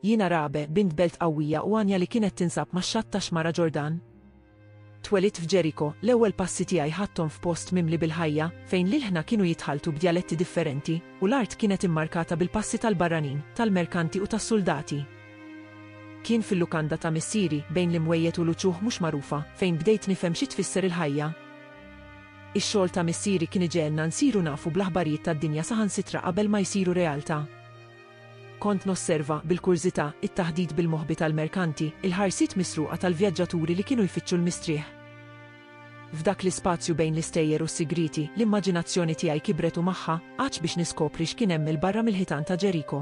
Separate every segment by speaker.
Speaker 1: Jiena Rabe, bint belt qawwija u għanja li kienet tinsab max-xatt tax-xmara Ġordan. Twelidt f'Ġeriko, l-ewwel passi tiegħi ħadthom f'post mimli bil-ħajja, fejn l-ilħna kienu jitħalltu b'djaletti differenti, u l-art kienet immarkata bil-passi tal-barranin, tal-merkanti u tas-suldati. Kien fil-lukanda ta' missieri, bejn l-imwejjed u l-uċuħ mhux magħrufa, fejn bdejt nifhem xi tfisser il-ħajja. Ix-xogħol ta' missieri kien iġegħelna nsiru nafu bl-aħbarijiet tad-dinja saħansitra qabel ma jsiru realtà. Kont nosserva, bil-kurżità, it-taħdit bil-moħbi tal-merkanti, il-ħarsiet misruqa tal-vjaġġaturi li kienu jfittxu l-mistrieħ. F'dak l-ispazju bejn l-istejjer u s-sigrieti, l-immaġinazzjoni tiegħi kibret u magħha, għatx biex niskopri x'kien hemm 'il barra mill-ħitan ta' Ġeriko.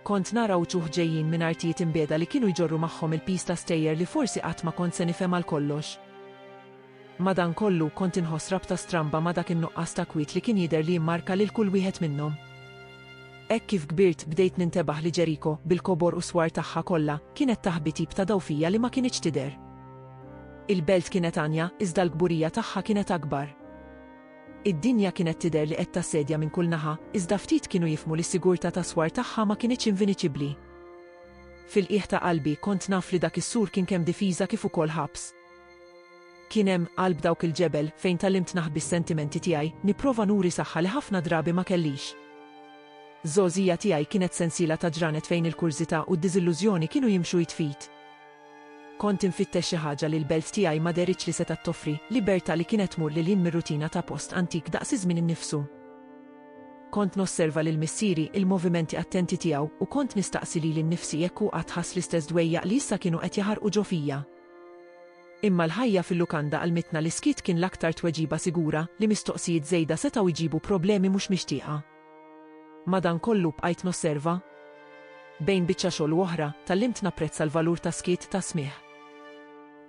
Speaker 1: Kont nara wċuħ ġejjin minn artijiet imbiegħda li kienu jġorru magħhom il-piż ta' stejjer li forsi qatt ma kont se nifhem għal kollox. Madankollu, kont inħoss rabta stramba ma' dak in-nuqqas ta' kwiet li kien jidher li jimmarka lil kull wieħed minnhom. Hekk kif kbirt, bdejt nintebaħ li Jericho, bil-kobor u s-swar tagħha kollha, kienet taħbi tip ta' dawl fija li ma kinitx tidher. Il-belt kienet għanja, iżda l-kburija tagħha kienet akbar. Id-dinja kienet tidher li qed tassedja minn kull naħa, iżda ftit kienu jifhmu li s-sigurtà tas-swar tagħha ma kinitx inviniċibbli. Fil-qiegħ ta' qalbi, kont naf li dak is-sur kien kemm difiża kif ukoll ħabs. Kien hemm qalb dawk il-ġebel fejn tgħallimt naħbi s-sentimenti tiegħi, nipprova nuri saħħa li ħafna drabi ma kellix. Żgħożija tiegħi kienet sensiela ta' ġranet fejn il-kurżità u d-diżillużjoni kienu jimxu id f'id. Kont infittex xi ħaġa li l-belt tiegħi ma dehritx li setgħet toffri, libertà li kienet tmur lil hinn mir-rutina ta' post antik daqs iż-żmien innifsu. Kont nosserva lil missieri, il-movimenti attenti tiegħu, u kont nistaqsi lili nnifsi jekk hu qatt ħass l-istess dwejjaq li issa kienu qed jaħarqu ġo fija. Imma l-ħajja fil-lukanda għallmitna li s-skiet kien l-aktar tweġiba sigura, li mistoqsijiet żejda setgħu jġibu problemi mhux mixtieqa. Madankollu, bqajt nosserva. Bejn biċċa xogħol u oħra, tgħallimt napprezza l-valur tas-skiet, tas-smigħ.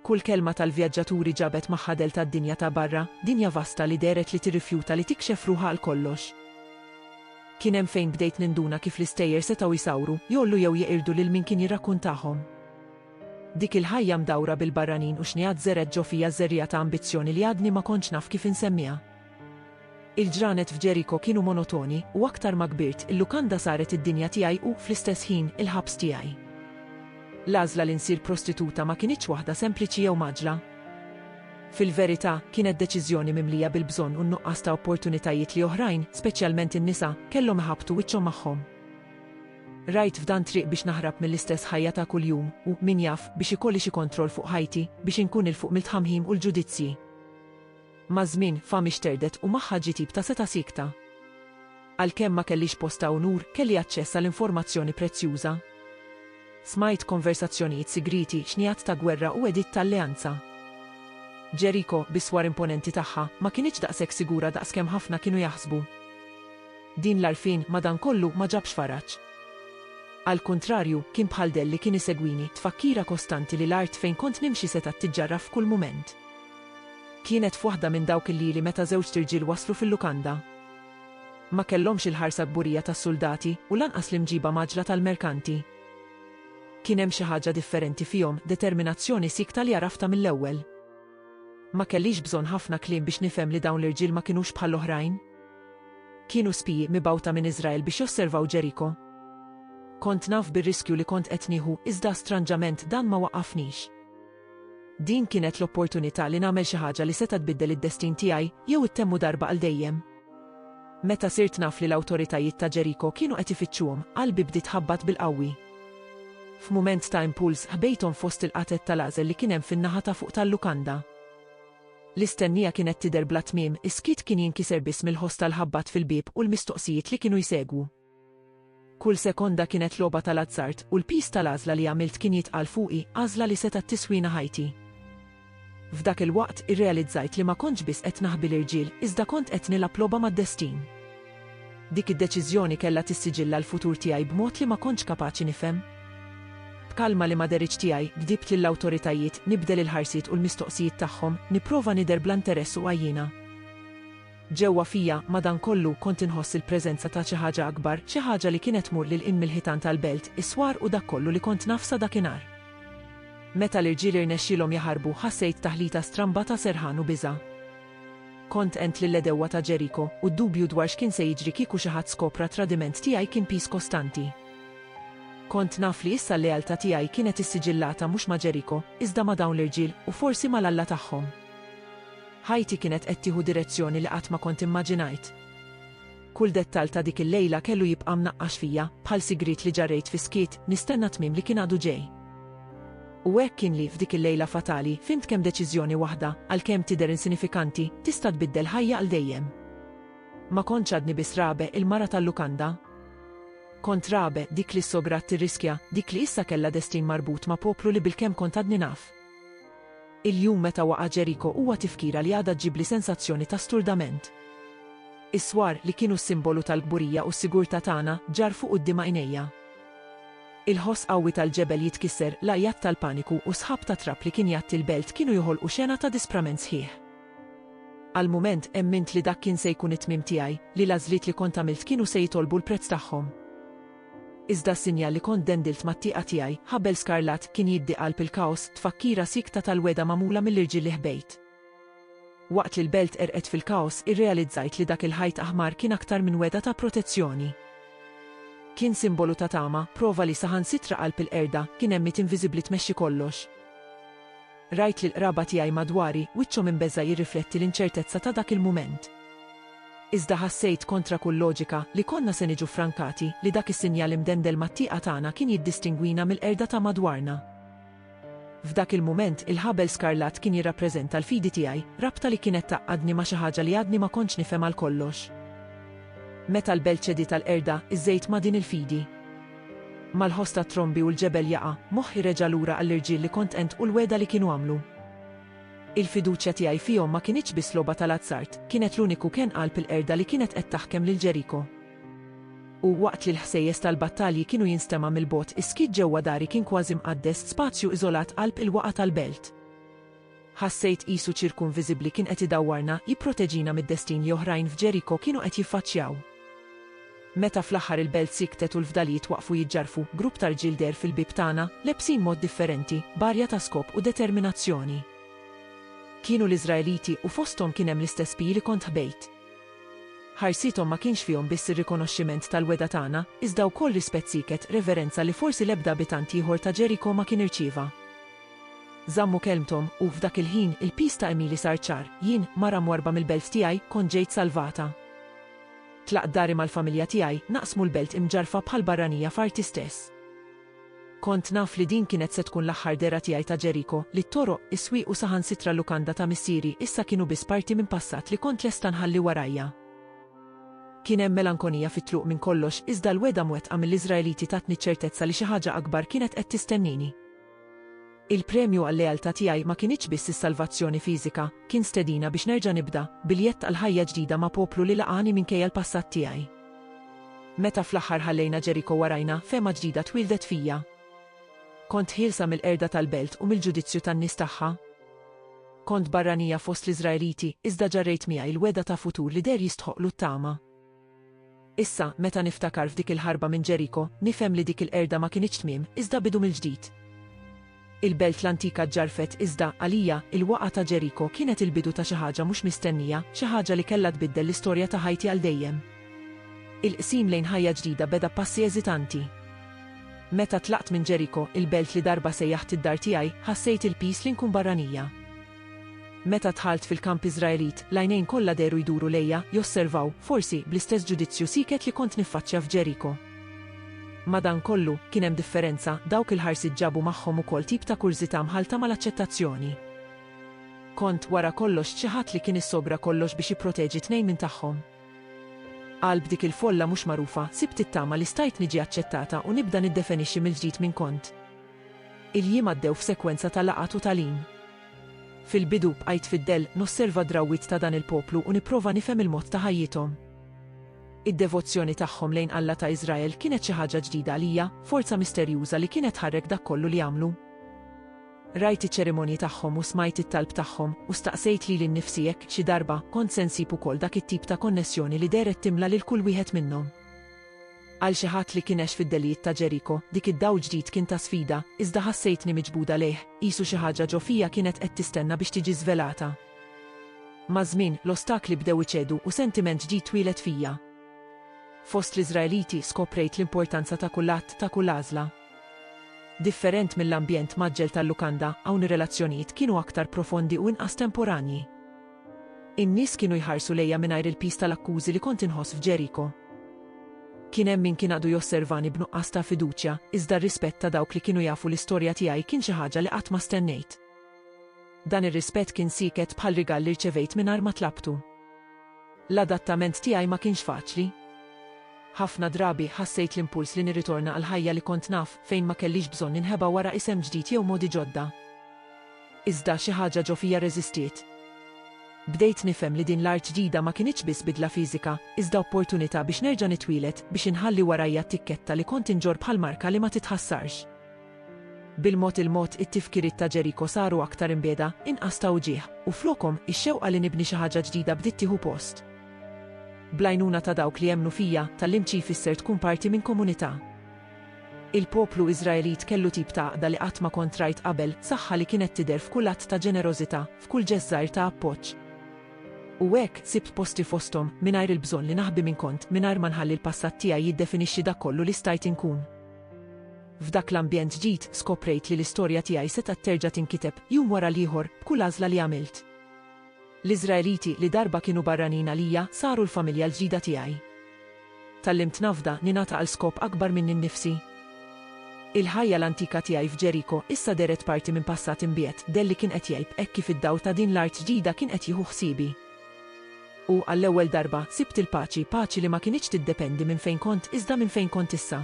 Speaker 1: Kull kelma tal-vjaġġaturi ġabet magħha dell tad-dinja ta' barra, dinja vasta li dehret li tirrifjuta li tikxef ruħha għal kollox. Kien hemm fejn bdejt ninduna kif l-istejjer setgħu jsawru, jgħollu jew jeqirdu lil min kien jirrakkuntahom. Dik il-ħajja mdawra bil-barranin u xnigħat żergħet ġo fija ż-żerriegħa ta' ambizzjoni li għadni ma kontx naf kif insemmiha. Il-ġranet f'Ġeriko kienu monotoni, u aktar ma kbirt, il-lukanda saret id-dinja tiegħi u, fl-istess ħin, il-ħabs tiegħi. L-għażla li nsir prostituta ma kinitx waħda sempliċi jew mgħaġġla. Fil-verità, kienet deċiżjoni mimlija bil-bżonn u n-nuqqas ta' opportunitajiet li oħrajn, speċjalment in-nisa, kellhom iħabbtu wiċċhom magħhom. Rajt f'dan triq biex naħrab mill-istess ħajja ta' kuljum u, min jaf, biex ikolli xi kontroll fuq ħajti, biex inkun 'il fuq mill-tħamħim u l-ġudizzji. Maż-żmien, fami xterdet u magħha ġie tip ta' setgħa siekta. Għalkemm ma kellix post ta' unur, kelli aċċess għal informazzjoni prezzjuża. Smajt konversazzjonijiet sigrieti, xnigħat ta' gwerra u għediet ta' alleanza. Ġeriko, bis-swar imponenti tagħha, ma kinitx daqshekk sigura daqskemm ħafna kienu jaħsbu. Din l-għarfien madankollu ma ġabx faraġ. Għall-kuntrarju, kien bħal dell li kien isegwini, tfakkira kostanti li l-art fejn kont nimxi setgħet tiġġarraf f'kull mument. Kienet f'waħda minn dawk il-lieli meta żewġt irġiel waslu fil-lukanda. Ma kellhomx il-ħarsa kburija tas-suldati u lanqas l-imġiba mgħaġġla tal-merkanti. Kien hemm xi ħaġa differenti fihom, determinazzjoni siekta li għaraftha mill-ewwel. Ma kellix bżonn ħafna kliem biex nifhem li dawn l-irġiel ma kinux bħall-oħrajn. Kienu spiji mibgħuta minn Iżrael biex josservaw Ġeriko. Kont naf bir-riskju li kont qed nieħu iżda stranġament dan ma waqqafnix. Din kienet l-opportunità li nagħmel xi ħaġa li seta' tbiddel id-destin tiegħi jew ittemmu darba għal dejjem. Meta sirt naf li l-awtoritajiet ta' Ġeriko kienu qed ifittxuhom, qalbi bdiet tħabbat bil-qawwi. F'mument ta' impuls ħbejthom fost il-qatgħet tal-għażel li kien hemm fin-naħa ta' fuq tal-lukanda. L-istennija kienet tidher bla tmiem, is-skiet kien jinkiser biss mill-ħoss tal-ħabbat fil-bieb u l-mistoqsijiet li kienu jsegwu. Kull sekonda kienet logħba tal-azzard, u l-piż tal-għażla li għamilt kien jitqal fuqi, għażla li setgħet tiswina ħajti. F'dak il-waqt, irrealizzajt li ma kontx biss qed naħbi l-irġiel, iżda kont qed nilgħab logħba mad-destin. Dik id-deċiżjoni kellha tissiġilla l-futur tiegħi b'mod li ma kontx kapaċi nifhem. B'kalma li ma dehritx tiegħi, gdibt lill-awtoritajiet, nibdel il-ħarsiet u l-mistoqsijiet tagħhom, nipprova nidher bla interess u għajjiena. Ġewwa fija, madankollu, kont inħoss il-preżenza ta' xi ħaġa akbar, xi ħaġa li kienet tmur lil hinn mill-ħitan tal-belt, is-swar u dak kollu li kont naf sa dakinhar. Meta l-irġiel irnexxielhom jaħarbu, ħassejt taħlita stramba ta' serħan u biża'. Kont għent lill-għedewwa ta' Ġeriko, u d-dubju dwar x'kien se jiġri kieku xi ħadd skopra t-tradiment tiegħi kien piż kostanti. Kont naf li issa l-lealtà tiegħi kienet issiġillata mhux ma' Ġeriko, iżda ma' dawn l-irġiel, u forsi mal-Alla tagħhom. Ħajti kienet qed tieħu direzzjoni li qatt ma kont immaġinajt. Kull dettall ta' dik il-lejla kellu jibqa' mnaqqax fija, bħal sigriet li ġarrejt fis-skiet, nistenna t-tmiem li kien għadu ġej. U hekk kien li, f'dik il-lejla fatali, fhimt kemm deċiżjoni waħda, għalkemm tidher insinifikanti, tista' tbiddel ħajja għal dejjem. Ma kontx għadni biss Rabe, il-mara tal-lukanda. Kont Rabe, dik li s-sograt tirriskja, dik li issa kellha destin marbut ma' poplu li bilkemm kont għadni naf. Il-jum meta waqa' Ġeriko huwa tifkira li għadha ġġibli sensazzjoni ta' sturdament. Is-swar, li kienu s-simbolu tal-kburija u s-sigurtà tagħna, ġarr fuq quddiem għajnejja. Il-ħoss qawwi tal-ġebel jitkisser, l-għajjat tal-paniku u s-sħab ta' trab li kien jgħatti l-belt kienu joħolqu xena ta' disprament sħiħ. Għal mument, emmint li dak kien se jkun it-tmiem tiegħi, li l-għażliet li kont għamilt kienu se jitolbu l-prezz tagħhom. Iżda s-sinjal li kont dendilt mat-tieqa tiegħi, ħabel skarlatt, kien jiddi qalb il-kaos, tfakkira siekta tal-wegħda magħmula mill-irġiel li ħbejt. Waqt li l-belt għerqet fil-kaos, irrealizzajt li dak il-ħajt aħmar kien aktar minn wegħda ta' protezzjoni. Kien simbolu ta' tama, prova li saħansitra qalb il-qerda, kien għemmiet inviżibbli tmexxi kollox. Rajt lill-qraba tiegħi madwari, wiċċhom imbeżża' jirrifletti l-inċertezza ta' dak il-mument. Iżda ħassejt, kontra kull loġika, li konna se niġu ffrankati, li dak is-sinjal imdendel mat-tieqa tagħna kien jiddistingwina mill-qerda ta' madwarna. F'dak il-mument, il-ħabel skarlat kien jirrappreżenta l-fidi tiegħi, rabta li kienet tgħaqqadni ma' xi ħaġa li għadni ma kontx nifhem għal kollox. Meta l-belt ċediet għall-qerda, iżżejt ma' din il-fidi. Mal-ħoss tat-trombi u l-ġebel jaqa', moħħi reġa' lura għall-irġiel li kont għint u l-wegħda li kienu għamlu. Il-fiduċja tiegħi fihom ma kinitx biss logħba tal-azzard, kienet l-uniku kenn qalb il-qerda li kienet qed taħkem lil Ġeriko. U, waqt li l-ħsejjes tal-battalji kienu jinstema' mill-bogħod, is-skiet ġewwa dari kien kważi mqaddes, spazju iżolat qalb il-waqgħa tal-belt. Ħassejt qisu ċirku inviżibbli kien qed idawwarna, jipproteġina mid-destin li oħrajn f'Ġeriko kienu qed jiffaċċjaw. Meta fl-aħħar il-belt sikktet u l-fdalijiet waqfu jiġġarrfu, grupp ta' rġiel deher fil-bieb tagħna, lebsin mod differenti, b'arja ta' skop u determinazzjoni. Kienu l-Iżraeliti u fosthom kien hemm l-istess Pi li kont ħbejt. Ħarsithom ma kienx fihom biss ir-rikonoxximent tal-wegħda tagħna, iżda wkoll rispett sieket, reverenza li forsi l-ebda abitant ieħor ta' Ġeriko ma kien irċieva. Żammu kelmthom, u, f'dak il-ħin, il-piż ta' għemili sar ċar, jien, mara mwarrba mill-belt tiegħi, kont ġejt salvata. Tlaqt dari mal-familja tiegħi, naqsmu l-belt imġarrfa bħal barranija f'arti stess. Kont naf li din kienet se tkun l-aħħar dehra tiegħi ta' Ġeriko, li t-toroq, is-swieq u saħansitra l-lukanda ta' missieri issa kienu biss parti minn passat li kont lesta nħalli warajja. Kien hemm melankonija fit-tluq minn kollox, iżda l-wegħda mwettqa mill-Iżraeliti tatni ċ-ċertezza li xi ħaġa akbar kienet qed tistennini. Il-premju għal-lealtà tiegħi ma kinitx biss is-salvazzjoni fiżika, kien stedina biex nerġa' nibda, biljett għal ħajja ġdida ma' poplu li laqagħni minkejja l-passat tiegħi. Meta fl-aħħar ħallejna Ġeriko warajna, fehma ġdida twieldet fija. Kont ħielsa mill-qerda tal-belt u mill-ġudizzju tan-nies tagħha. Kont barranija fost l-Iżraeliti, iżda ġarrejt miegħi l-wegħda ta' futur li deher jistħoqqlu t-tama. Issa, meta niftakar f'dik il-ħarba minn Ġeriko, nifhem li dik il-qerda ma kinitx tmiem, iżda bidu mill-ġdid. Il-belt l-antika ġġarrfet, iżda, għalija, il-waqgħa ta' Ġeriko kienet il-bidu ta' xi ħaġa mhux mistennija, xi ħaġa li kellha tbiddel l-istorja ta' ħajti għal dejjem. Il-qsim lejn ħajja ġdida beda b'passi eżitanti. Meta tlaqt minn Ġeriko, il-belt li darba sejjaħt id-dar tiegħi, ħassejt il-piż li nkun barranija. Meta dħalt fil-kamp Iżraelit, l-għajnejn kollha dehru jduru lejja, josservaw, forsi, bl-istess ġudizzju sieket li kont niffaċċja f'Ġeriko. Madankollu, kien hemm differenza, dawk il-ħarsiet ġabu magħhom ukoll tip ta' kurżità mħallta mal-aċċettazzjoni. Kont, wara kollox, xi ħadd li kien issogra kollox biex jipproteġi tnejn minn tagħhom. Qalb dik il-folla mhux magħrufa, sibt it-tama li stajt niġi aċċettata u nibda niddefenixxi mill-ġdid min kont. Il-jiem għaddew f'sekwenza ta' laqgħat u tagħlim. Fil-bidu bqajt fid-dell nosserva d-drawwiet ta' dan il-poplu u nipprova nifhem il-mod ta' ħajjithom. Id-devozzjoni tagħhom lejn Alla ta' Iżrael kienet xi ħaġa ġdida għalija, forza misterjuża li kienet tħarrek dak kollu li jagħmlu. Rajt iċ-ċerimonji tagħhom u smajt it-talb tagħhom, u staqsejt lili nnifsi jekk, xi darba, kont se nsib ukoll dak it-tip ta' konnessjoni li dehret timla lil kull wieħed minnhom. Għal xi ħadd li kien għex fid-delijiet ta' Ġeriko, dik id-dawl ġdid kien ta' sfida, iżda ħassejtni miġbuda lejh, qisu xi ħaġa ġo fija kienet qed tistenna biex tiġi żvelata. Maż-żmien, l-ostakli bdew iċedu u sentiment ġdid twieled fija. Fost l-Iżraeliti skoprejt l-importanza ta' kull att, ta' kull għażla. Different mill-ambjent mgħaġġel tal-lukanda, hawn ir-relazzjonijiet kienu aktar profondi u inqas temporanji. In-nies kienu jħarsu lejja mingħajr il-piż tal-akkużi li kont inħoss f'Ġeriko. Kien hemm min kien għadu josservani b'nuqqas ta' fiduċja, iżda r-rispett ta' dawk li kienu jafu l-istorja tiegħi kien xi ħaġa li qatt ma stennejt. Dan ir-rispett kien sieket bħal rigal li rċevejt mingħajr ma tlabtu. L-adattament tiegħi ma kienx faċli. Ħafna drabi, ħassejt l-impuls li nirritorna għall-ħajja li kont naf, fejn ma kellix bżonn ninħeba wara isem ġdid jew modi ġodda. Iżda xi ħaġa ġo fija rreżistiet. Bdejt nifhem li din l-art ġdida ma kinitx biss bidla fiżika, iżda opportunità biex nerġa' nitwieled, biex inħalli warajja t-tikketta li kont inġorr bħal marka li ma titħassarx. Bil-mod il-mod it-tifkiriet ta' Ġeriko saru aktar imbiegħda, inqas ta' uġigħ, u flokhom, ix-xewqa li nibni xi ħaġa ġdida bdiet tieħu post. Bl-għajnuna ta' dawk li emmnu fija, tgħallimt xi jfisser tkun parti minn komunità. Il-poplu Iżraelit kellu tip ta' għaqda li qatt ma kont rajt qabel, saħħa li kienet tidher f'kull att ta' ġenerożità, f'kull ġest żgħir ta' appoġġ. U hekk, sibt posti fosthom, mingħajr il-bżonn li naħbi min kont, mingħajr ma nħalli l-passat tiegħi jiddefinixxi dak kollu li stajt inkun. F'dak l-ambjent ġdid, skoprejt li l-istorja tiegħi setgħet terġa' tinkiteb, jum wara l-ieħor, b'kull għażla li għamilt. L-Iżraeliti li darba kienu barranin għalija saru l-familja l-ġdida tiegħi. Tgħallimt nafda, ningħata għal skop akbar minni nnifsi. Il-ħajja l-antika tiegħi f'Ġeriko issa dehret parti minn passat imbiet, dell li kien qed jgħib hekk kif id-dawl ta' din l-art ġdida kien qed jieħu ħsiebi. U, għall-ewwel darba, sibt il-paċi, paċi li ma kinitx tiddependi minn fejn kont iżda minn fejn kont issa.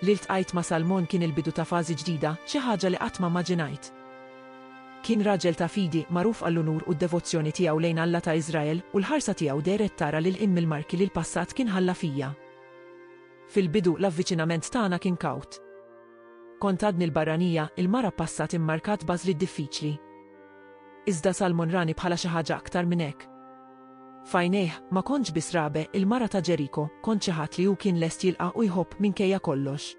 Speaker 1: Li ltqajt ma' Salmon kien il-bidu ta' fażi ġdida, xi ħaġa li qatt ma mmaġinajt. Kien raġel ta' fidi, magħruf għall-unur u d-devozzjoni tiegħu lejn Alla ta' Iżrael, u l-ħarsa tiegħu dehret tara lil hinn mill-marki li l-passat kien ħalla fija. Fil-bidu, l-avviċinament tagħna kien kawt. Kont għadni l-barranija, il-mara b'passat immarkat b'għażliet diffiċli. Iżda Salmon rani bħala xi ħaġa aktar minn hekk. F'għajnejh, ma kontx biss Rabe, il-mara ta' Ġeriko, kont xi ħadd li hu kien lest jilqa' u jħobb minkejja kollox.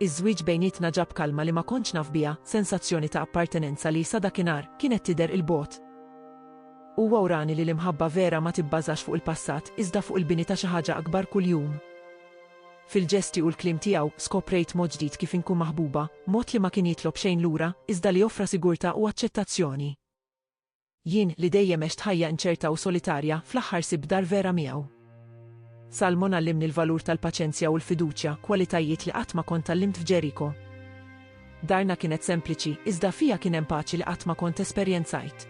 Speaker 1: Iż-żwieġ bejnietna ġab kalma li ma kontx naf biha, sensazzjoni ta' appartenenza li, sa dakinhar, kienet tidher 'il bogħod. Huwa wrani li l-imħabba vera ma tibbażax fuq il-passat, iżda fuq il-bini ta' xi ħaġa akbar kuljum. Fil-ġesti u l-kliem tiegħu, skoprejt mod ġdid kif inkun maħbuba, mod li ma kien jitlob xejn lura, iżda li offra sigurtà u aċċettazzjoni. Jien, li dejjem għext ħajja inċerta u solitarja, fl-aħħar sibt dar vera miegħu. Salmon għallimni l-valur tal-paċenzja u l-fiduċja, kwalitajiet li qatt ma kont tgħallimt f'Ġeriko. Darna kienet sempliċi, iżda fiha kien hemm paċi li qatt ma kont esperjenzajt.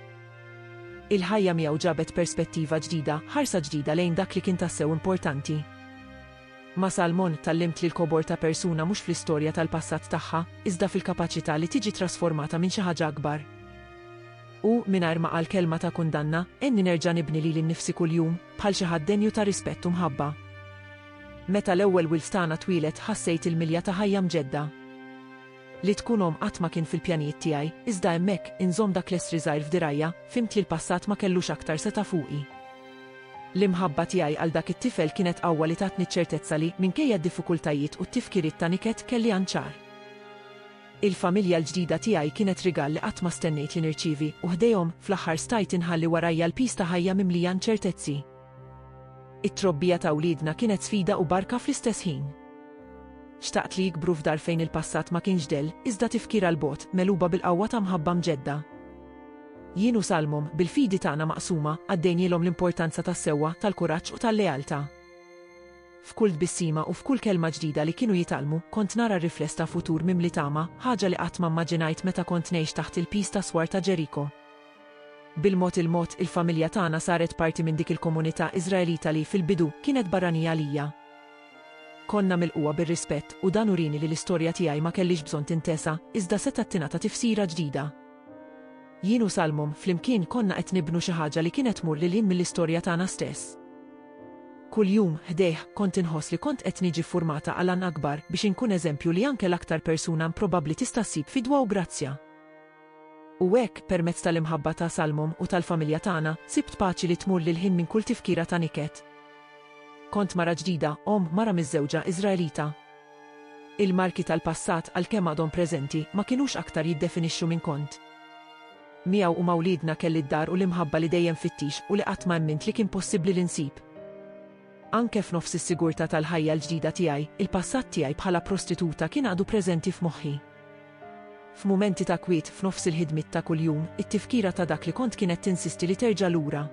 Speaker 1: Il-ħajja miegħu ġabet perspettiva ġdida, ħarsa ġdida lejn dak li kien tassew importanti. Ma' Salmon tallimt li l-kobor ta' persuna mhux fl-istorja tal-passat tagħha, iżda fil-kapaċità li tiġi trasformata minn xi ħaġa akbar. U, mingħajr ma qal kelma ta' kundanna, għenni nerġa' nibni lili nnifsi kuljum, bħal xi ħadd denju ta' rispett u mħabba. Meta l-ewwel wild tagħna twieled ħassejt il-milja ta' ħajja mġedda. Li tkun omm qatt ma kien fil-pjanijiet tiegħi, iżda hemmhekk, inżomm dak l-essri żgħir f'dirgħajja, fhimt li l-passat ma kellux aktar setgħa fuqi. L-imħabba tiegħi għal dak it-tifel kienet qawwa li tatni ċ-ċertezza li, minkejja d-diffikultajiet u t-tifkiriet ta' niket, kelli għan ċar. Il-familja l-ġdida tiegħi kienet rigal li qatt ma stennejt li nirċievi, u ħdejhom, fl-aħħar stajt inħalli warajja l-piż ta' ħajja mimlija inċertezzi. It-trobbija ta' wliedna kienet sfida u barka fl-istess ħin. Xtaqt li jikbru f'dar fejn il-passat ma kienx dell, iżda tifkira 'l bogħod, megħluba bil-qawwa ta' mħabba mġedda. Jien u Salmom, bil-fidi tagħna maqsuma, għaddejnielhom l-importanza tas-sewwa, tal-kuraġġ u tal-lealtà. F'kull tbissima u f'kull kelma ġdida li kienu jitgħallmu, kont nara r-rifless ta' futur mimli tama, ħaġa li qatt ma mmaġinajt meta kont ngħix taħt il-piż tas-swar ta' Ġeriko. Bil-mod il-mod, il-familja tagħna saret parti minn dik il-komunità Iżraelita li, fil-bidu, kienet barranija għalija. Konna milqugħa bir-rispett, u dan urieni li l-istorja tiegħi ma kellhiex bżonn tintesa, iżda setgħet tingħata tifsira ġdida. Jien u Salmum flimkien konna qed nibnu xi ħaġa li kienet tmur lil hinn mill-istorja tagħna stess. Kuljum, ħdejh, kont inħoss li kont qed niġi ffurmata għal għan akbar, biex inkun eżempju li anke l-aktar persuna improbabbli tista' ssib fidwa u grazzja. U hekk, permezz tal-imħabba ta' Salmum u tal-familja tagħna, sibt paċi li tmur lil hinn minn kull tifkira ta' niket. Kont mara ġdida, omm, mara miżżewġa, Iżraelita. Il-marki tal-passat, għalkemm għadhom preżenti, ma kinux aktar jiddefinixxu min kont. Miegħu u ma' wliedna kelli d-dar u l-imħabba li dejjem fittix u li qatt ma emmint li kien possibbli li nsib. Anke f'nofs is-sigurtà tal-ħajja l-ġdida tiegħi, il-passat tiegħi bħala prostituta kien għadu preżenti f'moħħi. F'mumenti ta' kwiet, f'nofs il-ħidmiet ta' kuljum, it-tifkira ta' dak li kont kienet tinsisti li terġa' lura.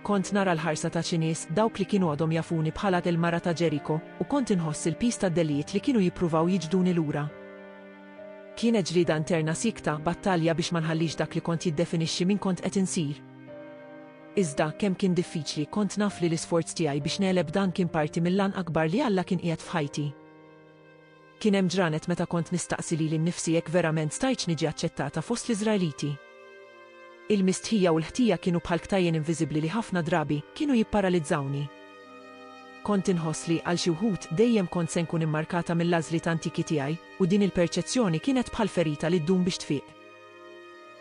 Speaker 1: Kont nara l-ħarsa ta' xi nies, dawk li kienu għadhom jafuni bħala il-mara ta' Ġeriko, u kont inħoss il-piż tad-delijiet li kienu jippruvaw jiġbduni lura. Kienet ġlieda interna siekta, battalja biex ma nħallix dak li kont jiddefinixxi min kont qed insir. Iżda, kemm kien diffiċli, kont naf li l-isforz tiegħi biex negħleb dan kien parti mill-għan akbar li Alla kien qiegħed f'ħajti. Kien hemm ġranet meta kont nistaqsi lili nnifsi jekk verament stajtx niġi aċċettata fost l-Iżraeliti. Il-mistħija u l-ħtija kienu bħal ktajjen inviżibbli li ħafna drabi kienu jipparalizzawni. Kont inħoss li, għal xi wħud, dejjem kont se nkun immarkata mill-għażliet antiki tiegħi, u din il-perċezzjoni kienet bħal ferita li ddum biex tfiq.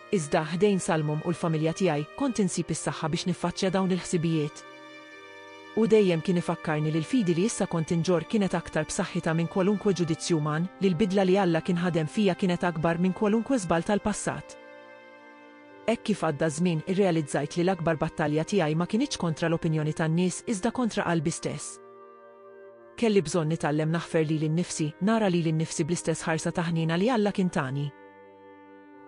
Speaker 1: Iżda, ħdejn sal-mom u l-familja tiegħi, kont insib is-saħħa biex niffaċċja dawn il-ħsibijiet. Hu dejjem kien ifakkarni li l-fidi li issa kont inġorr kienet aktar b'saħħitha minn kwalunkwe ġudizzju uman, li l-bidla li Alla kien ħadem fija kienet akbar minn kwalunkwe żball tal-passat. Hekk kif għadda ż-żmien, irrealizzajt li l-akbar battalja tiegħi ma kinitx kontra l-opinjoni tan-nies iżda kontra qalbi stess. Kelli bżonn nitgħallem naħfer lili nnifsi, nara lili nnifsi bl-istess ħarsa ta' ħniena li Alla kien tani.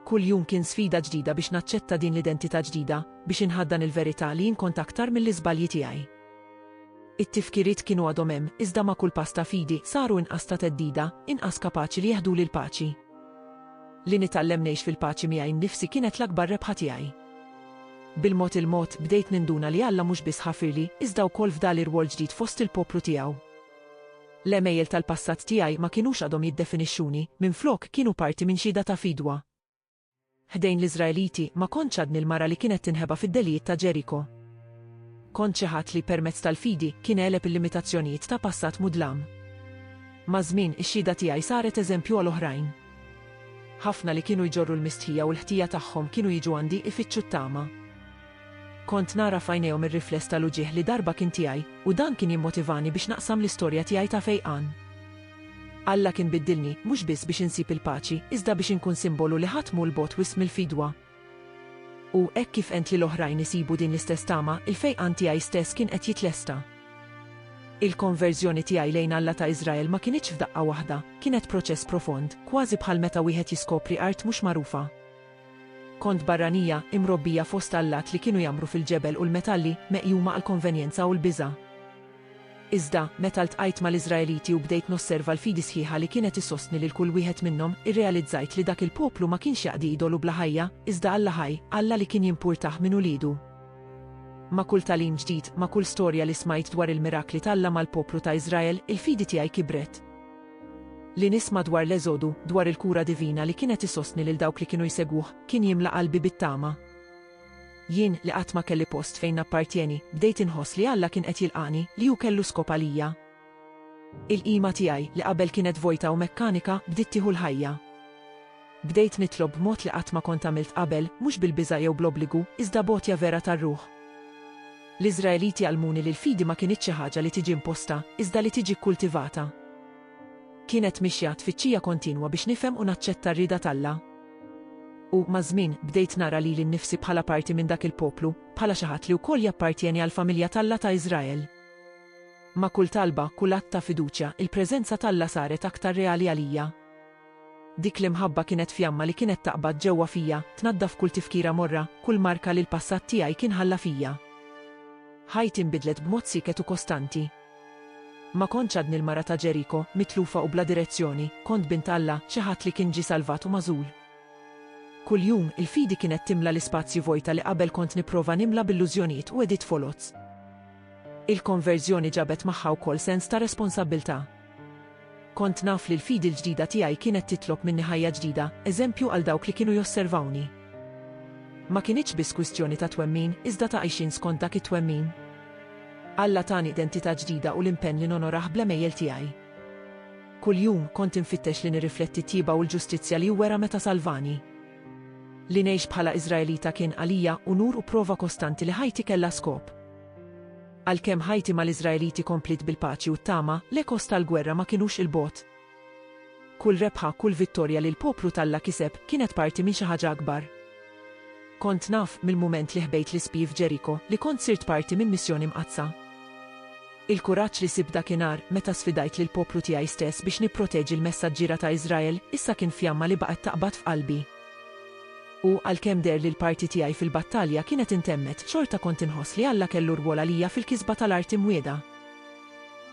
Speaker 1: Kull jum kien sfida ġdida biex naċċetta din l-identità ġdida, biex inħaddan il-verità li jien kont aktar mill-iżbalji tiegħi. It-tifkiriet kienu għadhom hemm, iżda ma' kull pass ta' fidi saru inqas ta' theddida, inqas kapaċi li jeħduli l-paċi. Li nitgħallem ngħix fil-paċi miegħi nnifsi kienet l-akbar rebħa tiegħi. Bil-mod il-mod bdejt ninduna li Alla mhux biss ħafirli, iżda wkoll fdali rwol ġdid fost il-poplu tiegħu. L-għemejjel tal-passat tiegħi ma kinux għadhom jiddefinixxuni, minflok kienu parti minn xhieda ta' fidwa. Ħdejn l-Iżraeliti, ma kontx għadni l-mara li kienet tinħeba fid-delijiet ta' Ġeriko. Kont xi ħadd li, permezz tal-fidi, kien għeleb il-limitazzjonijiet ta' passat mudlam. Maż-żmien, ix-xhieda tiegħi saret eżempju għal oħrajn. Ħafna li kienu jġorru l-mistħija u l-ħtija tagħhom kienu jiġu għandi ifittxu t-tama. Kont nara f'għajnejhom ir-rifless tal-uġigħ li darba kien tiegħi, u dan kien jimmotivani biex naqsam l-istorja tiegħi ta' fejqan. Alla kien biddilni, mhux biss biex insib il-paċi, iżda biex inkun simbolu li ħadd mhu 'l bogħod wisq mill-fidwa. U, hekk kif għent lil oħrajn isibu din l-istess tama, il-fejqan tiegħi stess kien qed jitlesta. Il-konverżjoni tiegħi lejn Alla ta' Iżrael ma kinitx f'daqqa waħda, kienet proċess profond, kważi bħal meta wieħed jiskopri art mhux magħrufa. Kont barranija, imrobbija fost allat li kienu jgħammru fil-ġebel u l-metalli, meqjuma għall-konvenjenza u l-biża'. Iżda, meta ltqajt mal-Iżraeliti u bdejt nosserva l-fidi sħiħa li kienet issostni lil kull wieħed minnhom, irrealizzajt li dak il-poplu ma kienx jaqdi idolu bla ħajja, iżda Alla ħaj, Alla li kien jimpurtah minn uliedu. Ma' kull tagħlim ġdid, ma' kull storja li smajt dwar il-mirakli t'Alla mal-poplu ta' Iżrael, il-fidi tiegħi kibret. Li nisma' dwar l-Eżodu, dwar il-kura divina li kienet isostni lil dawk li kienu jsegwuh, kien jimla qalbi bit-tama. Jien, li qatt ma kelli post fejn nappartjeni, bdejt inħoss li Alla kien qed jilqagħni, li hu kellu skop għalija. Il-qima tiegħi, li qabel kienet vojta u mekkanika, bdiet tieħu l-ħajja. Bdejt nitlob b'mod li qatt ma kont għamilt qabel, mhux bil-biża' jew bl-obbligu, iżda b'għotja vera tar-ruħ. L-Iżraeliti għallmuni li l-fidi ma kinitx xi ħaġa li tiġi imposta, iżda li tiġi kkultivata. Kienet mixja, tfittxija kontinwa biex nifhem u naċċetta r-rieda t'Alla. U, maż-żmien, bdejt nara lili nnifsi bħala parti minn dak il-poplu, bħala xi ħadd li wkoll jappartjeni għall-familja t'Alla ta' Iżrael. Ma' kull talba, kull att ta' fiduċja, il-preżenza t'Alla saret aktar reali għalija. Dik l-imħabba kienet fjamma li kienet taqbad ġewwa fija, tnaddaf kull tifkira morra, kull marka li l-passat tiegħi kien ħalla fija. Ħajti nbidlet b'mod sieket u kostanti. Ma kontx għadni l-mara ta' Ġeriko, mitlufa u bla direzzjoni, kont bint Alla, xi ħadd li kien ġie salvat u magħżul. Kuljum, il-fidi kienet timla l-ispazji vojta li qabel kont nipprova nimla b'illużjonijiet u għediet foloz. Il-konverżjoni ġabet magħha wkoll sens ta' responsabbiltà. Kont naf li l-fidi l-ġdida tiegħi kienet titlob minni ħajja ġdida, eżempju għal dawk li kienu josservawni. Ma kinitx biss kwistjoni ta' twemmin, iżda ta' għixien skont dak it-twemmin. Alla tani identità ġdida u l-impenn li nonorah bl-għemejjel tiegħi. Kuljum, kont infittex li nirrifletti t-tjieba u l-ġustizzja li hu wera meta salvani. Li ngħix bħala Iżraelita kien għalija unur u prova kostanti li ħajti kellha skop. Għalkemm ħajti mal-Iżraeliti kompliet bil-paċi u t-tama, l-ekos tal-gwerra ma kinux 'il bogħod. Kull rebħa, kull vittorja li l-poplu t'Alla kiseb kienet parti minn xi ħaġa akbar. Kont naf, mill-mument li ħbejt l-ispji f'Ġeriko, li kont sirt parti minn missjoni mqaddsa. Il-kuraġġ li sibt dakinhar, meta sfidajt lill-poplu tiegħi stess biex nipproteġi l-messaġġiera ta' Iżrael, issa kien fjamma li baqgħet taqbad f'qalbi. U, għalkemm deher li l-parti tiegħi fil-battalja kienet intemmet, xorta kont inħoss li Alla kellu rwol għalija fil-kisba tal-art imwiegħda.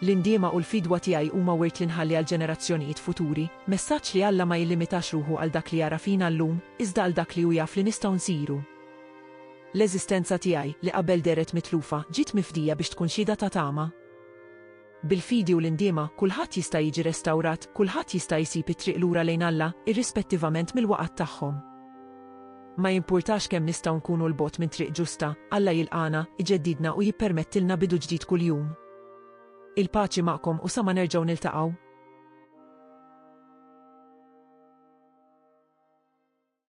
Speaker 1: L-indiema u l-fidwa tiegħi huma wirt li nħalli għall-ġenerazzjonijiet futuri, messaġġ li Alla ma jillimitax ruħu għal dak li jara fina llum, iżda għal dak li hu jaf li nistgħu nsiru. L-eżistenza tiegħi, li qabel dehret mitlufa, ġiet mifdija biex tkun xhieda ta' tama. Bil-fidi u l-indiema, kulħadd jista' jiġi restawrat, kulħadd jista' jsib it-triq lura lejn Alla, irrispettivament mill-waqgħat tagħhom. Ma jimpurtax kemm nistgħu nkunu 'l bogħod minn triq ġusta, Alla jilqagħna, iġeddidna u jippermettilna bidu ġdid kuljum. Il-paċi magħkom u sa ma nerġgħu niltaqgħu.